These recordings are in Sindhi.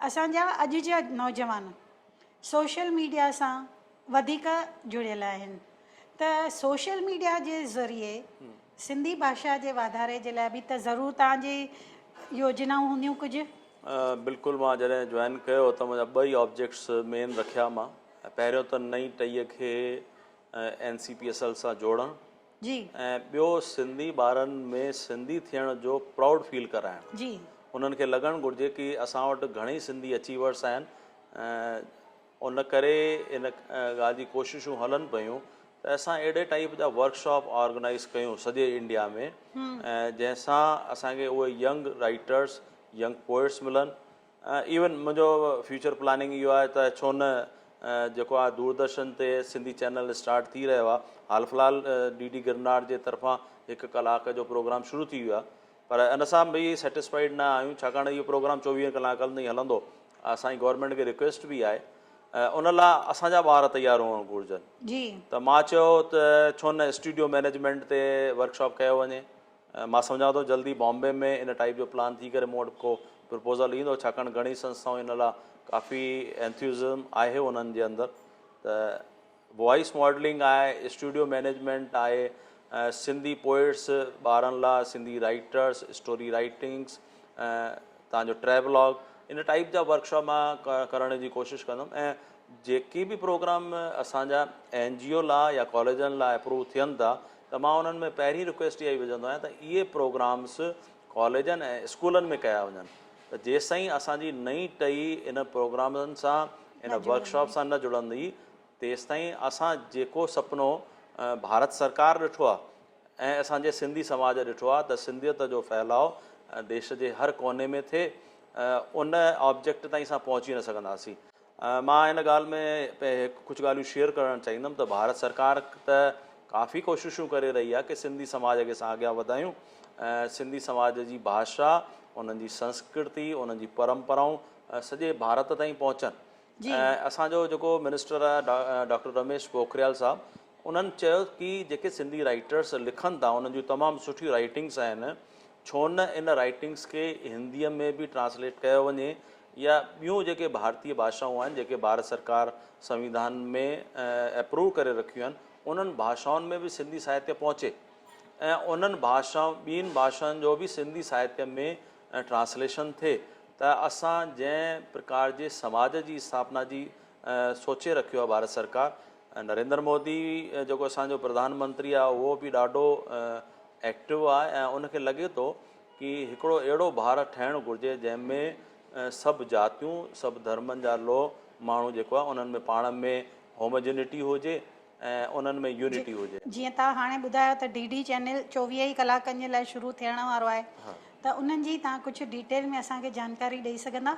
اسان جا اڄ جا نوجوان سوشل ميڊيا سان وڌيڪ جڙيل آهن ته سوشل ميڊيا جي ذريعي سنڌي ڀاشا جي واڌاري جي لاء به ته ضرور توهان جي يوجنائون هونديون ڪجهه؟ بلڪل مان جڏهن جوائن ڪيو ته منهنجا ٻه ئي آبجيڪٽس مين رکيا مان پهريون ته نئين ٽهي کي N C P S L سان جوڙڻ جي. ۽ ٻيو سنڌي ٻارن ۾ سنڌي ٿيڻ جو پرائوڊ فيل ڪرائڻ. جي. انهن کي لڳڻ گهرجي ڪي اسان وٽ گهڻي سنڌي اچيورس آهن ان ڪري ان ڳالهه جي ڪوششون هلن پيون ته اسان اهڙي ٽائيپ جا ورڪشاپ آرگنائيز ڪيون سڄي انڊيا ۾ جنهن سان اسان کي اهي ينگ رائيٽرس ينگ پوئٽس ملن ايون منهنجو فيوچر پلاننگ اهو آهي ته ڇو نه جيڪو آ دوردرشن تي سنڌي چينل اسٽارٽ ٿي رهيو آ حال في الحال ڊي ڊي گرناٽ جي طرفان هڪ ڪلاڪ جو پروگرام شروع ٿي ويو آ پر ان سان به سيٽسفائيڊ نه آهيون ڇاڪاڻ اهو پروگرام چوويهن ڪلاڪن تائين هلندو اسان جي گورنمينٽ کي رڪويسٽ به آهي ان لا اسان جا ٻار تيار هئڻ گهرجن ته مان چيو ته ڇو نه اسٽوڊيو مينيجمينٽ تي ورڪشاپ ڪيو وڃي مان سمجهان ٿو جلد ئي بامبي ۾ ان ٽائيپ جو پلان ٿي ڪري مون وٽ ڪو پرپوزل ايندو ڇاڪاڻ گهڻي سنسٿائون ان لا ڪافي انٿيوزم آهي انهن جي اندر ته وائيس ماڊلنگ آهي اسٽوڊيو مينيجمينٽ آهي سنڌي پوئيٽس ٻارن لا سنڌي رائيٽرس اسٽوري رائيٽنگس تان جو ٽريولاگ ان ٽائيپ جا ورڪشاپ مان ڪرڻ جي ڪوشش ڪندم ۽ جيڪي به پروگرام اسان جا اين جي او لا يا ڪاليجن لا اپروو ٿين ٿا ته مان انهن ۾ پهرين رڪويسٽ اها ئي وجهندو آهيان ته اهي پروگرامز ڪاليجن ۽ اسڪولن ۾ ڪيا وڃن ته جيستائين اسان جي نئين ٽهي ان پروگرامن سان ان ورڪشاپ سان نه جڙندي تيستائين اسان جيڪو سپنو ڀارت سرڪار ڏٺو آهي ۽ اسان جي سنڌي سماج ڏٺو آهي ته سنڌيت جو ڦهلاء ديش جي هر ڪوني ۾ ٿئي ان آبجيڪٽ تائين اسان پهچي نه سگهنداسين. مان ان ڳالهه ۾ ڪجهه ڳالهيون شيئر ڪرڻ چاهيندم ته ڀارت سرڪار ته ڪافي ڪوششون ڪري رهي آهي ڪي سنڌي سماج کي اسان اڳيان وڌايون ۽ سنڌي سماج جي ڀاشا انهن جي سنسڪرتي انهن جي پرمپرائون سڄي ڀارت تائين پهچن ۽ اسان جو جيڪو منسٽر آهي ڊاڪٽر رميش پوکريال صاحب انهن چيو ڪي جيڪي سنڌي رائيٽرس لکن ٿا انهن جون تمام سٺيون رائيٽنگس آهن ڇو نه ان رائٽنگس کي هنديء ۾ به ٽرانسليٽ ڪيو وڃي يا ٻيون جيڪي ڀارتي ڀاشائون آهن جيڪي ڀارت سرڪار سنويڌان ۾ ايپروو ڪري رکيون آهن انهن ڀاشائن ۾ به سنڌي ساهتيه پهچي ۽ انهن ڀاشائن ٻين ڀاشائن جو به سنڌي ساهتيه ۾ ٽرانسليشن ٿئي ته اسان جنهن پرڪار جي سماج جي اسٿاپنا جي سوچي رکيو آهي ڀارت سرڪار ۽ نريندر مودي جيڪو اسان جو پرڌان منتري آهي اهو به ڏاڍو ايڪٽو آهي ۽ ان کي لڳي ٿو ڪي هڪڙو اهڙو ڀارت ٺهڻ گهرجي جنهن ۾ سڀ جاتيون سڀ ڌرمن جا لو ماڻهو جيڪو آهي انهن ۾ پاڻ ۾ هومجنيٽي هجي ۽ انهن ۾ يونٽي هجي. جيئن تان هاڻي ٻڌايو ته ڊي ڊي چينل چوويهه ئي ڪلاڪن جي لاء شروع ٿيڻ وارو آهي ته انهن جي تان ڪجهه ڊيٽيل ۾ اسان کي جانڪاري ڏئي سگهندا؟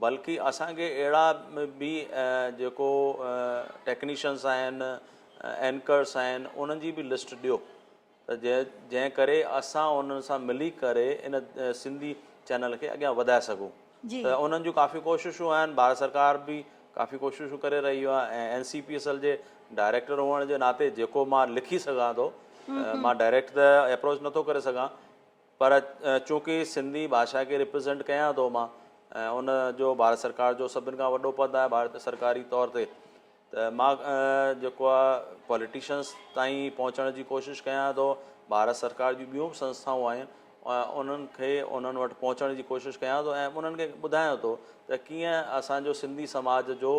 بلڪ اسان کي اهڙا به جيڪو ٽيڪنيشنس آهن اينڪرس آهن انهن جي به لسٽ ڏيو ته جنهن جنهن ڪري اسان انهن سان ملي ڪري ان سنڌي چينل کي اڳيان وڌائي سگهون جي ته انهن جون ڪافي ڪوششون آهن ڀارت سرڪار به ڪافي ڪوششون ڪري رهي آهي ۽ N C P S L جي ڊائريڪٽر هئڻ جي ناتي جيڪو مان لکي سگهان ٿو مان ڊائريڪٽ ته اپروچ نٿو ڪري سگهان پر چونڪه سنڌي ڀاشا کي ريپريزينٽ ڪيان ٿو مان ۽ ان جو ڀارت سرڪار جو سڀن کان وڏو پد آهي ڀارت سرڪاري طور تي ته مان جيڪو آهي پوليٽيشنس تائين پهچڻ جي ڪوشش ڪيان ٿو ڀارت سرڪار جون ٻيون به سنسٿائون آهن انهن کي انهن وٽ پهچڻ جي ڪوشش ڪيان ٿو ۽ انهن کي ٻڌايان ٿو ته ڪيئن اسانجو سنڌي سماج جو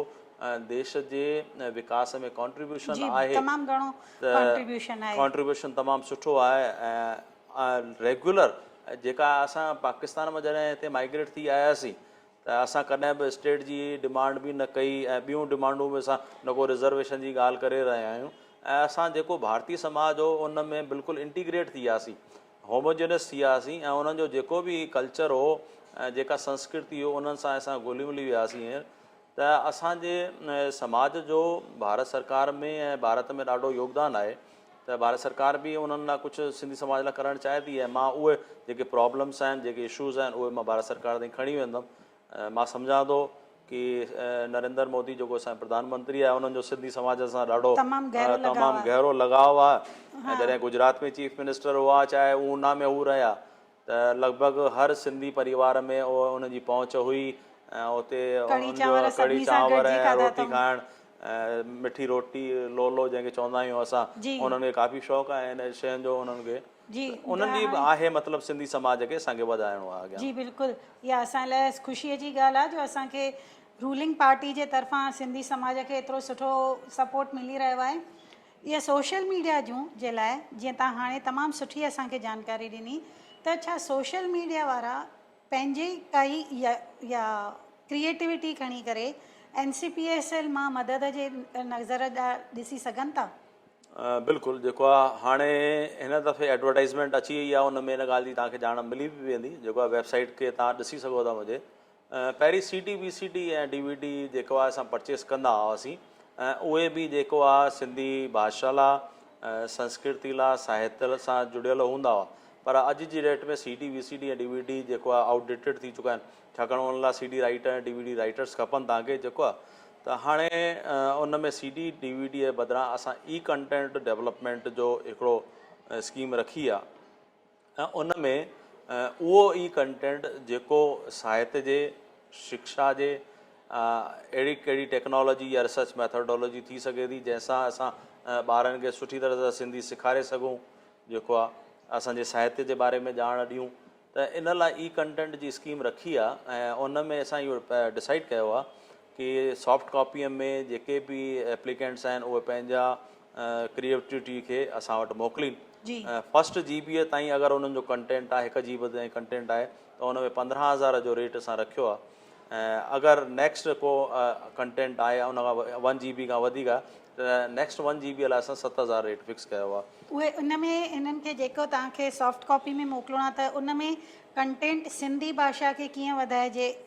ديش جي وڪاس ۾ ڪانٽريبيوشن آهي تمام گهڻو ڪانٽريبيوشن آهي ڪانٽريبيوشن تمام سٺو آهي ۽ ريگيولر جيڪا اسان پاڪستان مان جڏهن هتي مائگريٽ ٿي آياسين ته اسان ڪڏهن به اسٽيٽ جي ڊمانڊ به نه ڪئي ۽ ٻيون ڊمانڊون به اسان رڳو رزرويشن جي ڳالهه ڪري رهيا آهيون ۽ اسان جيڪو ڀارتي سماج هو ان ۾ بلڪل انٽيگريٽ ٿي وياسين هوموجينس ٿي وياسين ۽ انهن جو جيڪو به ڪلچر هو جيڪا سنسڪرتي هو انهن سان اسان گهلي ملي وياسين ته اسان جي سماج جو ڀارت سرڪار ۾ ۽ ڀارت ۾ ڏاڍو يوگدان آهي ته ڀارت سرڪار به انهن لاء ڪجهه سنڌي سماج لاء ڪرڻ چاهي ٿي ۽ مان اهي جيڪي پرابلمس آهن جيڪي اشوز آهن اهي مان ڀارت سرڪار تائين کڻي ويندم مان سمجهان ٿو ڪي نريندر مودي جيڪو اسان پرڌان منتري آهي انهن جو سنڌي سماج سان ڏاڍو تمام گهرو لڳاء تمام گهرو لڳاء آهي ۽ جڏهن گجرات ۾ چيف منسٽر هئا چاهي اونا ۾ هو رهيا ته لڳ ڀڳ هر سنڌي پريوار ۾ ان جي پهچ هئي ۽ اتي ان جو ڪڙهي چانور ۽ روٽي کائڻ مٺي روٽي لولو جنهن کي چوندا آهيون اسان انهن کي ڪافي شوق آهي ان شين جو انهن کي انهن جي به آهي مطلب سنڌي سماج کي اسان کي وڌائڻو آهي اڳيان جي بلڪل اها اسان لاء خوشي جي ڳالهه آهي جو اسان کي رولنگ پارٽي جي طرفان سنڌي سماج کي ايترو سٺو سپورٽ ملي رهيو آهي اهي سوشل ميڊيا جون جي لاء جيئن تان هاڻي تمام سٺي اسان کي جانڪاري ڏني ته ڇا سوشل ميڊيا وارا پنهنجي ڪائي يا يا ڪريئيٽوٽي کڻي ڪري N C P S L مان مدد جي نظر ڏسي سگهن ٿا؟ بلڪل جيڪو آ هاڻي هن دفعي ايڊورٽائيزمينٽ اچي وئي آ ان ۾ ان ڳالهه جي توهان کي ڄاڻ ملي به ويندي جيڪو آ ويب سائيٽ کي توهان ڏسي سگهو ٿا منهنجي پهرين C D V C D ۽ D V D جيڪو آهي اسان پرچيز ڪندا هئاسين اهي به جيڪو آ سنڌي ڀاشا لا سنسڪرتي لا ساهت سان جڙيل هوندا هئا پر اڄ جي date ۾ C D V C D ۽ D V D جيڪو آ آئوٽ ڊيٽيڊ ٿي چڪا آهن ڇاڪاڻ ان لا C D writer ۽ D V D writers کپن تان کي جيڪو آ ته هاڻي ان ۾ C D D V D جي بدران اسان اي ڪنٽينٽ ڊيولپمينٽ جو هڪڙو اسڪيم رکي آ ۽ ان ۾ اهو ئي ڪنٽينٽ جيڪو ساهت جي، شڪشا جي اهڙي ڪهڙي ٽيڪنالاجي يا ريسرچ ميٿاڊالاجي ٿي سگهي ٿي جنهن سان اسان ٻارن کي سٺي طرح سان سنڌي سيکاري سگهون جيڪو آ اسان جي ساهت جي باري ۾ ڄاڻ ڏيون ته ان لاء اي ڪنٽينٽ جي اسڪيم رکي آ ۽ ان ۾ اسان اهو ڊسائيڊ ڪيو آ ڪي سافٽ ڪاپيء ۾ جيڪي به ايپليڪينٽس آهن اهي پنهنجا ڪريئيٽوٽي کي اسان وٽ موڪلين جي فسٽ جي بي تائين اگر انهن جو ڪنٽينٽ آهي هڪ جي بي تائين ڪنٽينٽ آهي ته ان ۾ پندرهن هزار جو ريٽ اسان رکيو آهي اگر نيڪسٽ ڪو ڪنٽينٽ آهي ان کان ون جي بي کان وڌيڪ آهي ته نيڪسٽ ون جي بي لاء اسان ست هزار ريٽ فڪس ڪيو آهي اهي ان ۾ انهن کي جيڪو توهان کي سافٽ ڪاپي ۾ موڪلڻو آهي ته ان ۾ ڪنٽينٽ سنڌي ڀاشا کي ڪيئن وڌائجي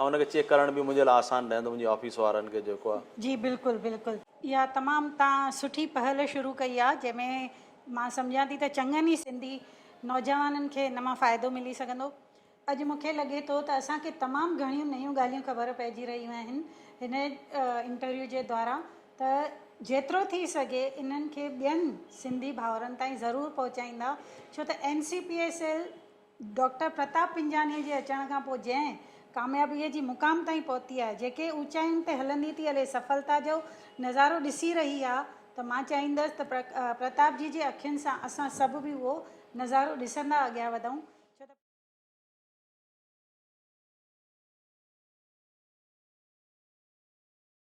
۽ ان کي چيڪ ڪرڻ به منهنجي لاء آسان رهندو منهنجي آفيس وارن کي جيڪو آ. جي بلڪل بلڪل اها تمام تان سٺي پهل شروع ڪئي آ جنهن ۾ مان سمجهان ٿي ته چڱن ئي سنڌي نوجوانن کي ان مان فائدو ملي سگهندو اڄ مون کي لڳي ٿو ته اسان کي تمام گهڻيون نيون ڳالهيون خبر پئجي رهيون آهن هن انٽرويو جي دوارا ته جيترو ٿي سگهي انهن کي ٻين سنڌي ڀائرن تائين ضرور پهچائيندا ڇو ته NCPSL ڊاڪٽر پرتاب پنجانيء جي اچڻ کان پوء جنهن ڪاميابيء جي مقام تائين پهتي آهي، جيڪي اوچاين تي هلندي ٿي هلي سڦلتا جو نظارو ڏسي رهي آهي ته مان چاهيندس ته پرتاب جي جي اکين سان اسان سڀ به اهو نظارو ڏسندا اڳيان وڌون، ڇو ته.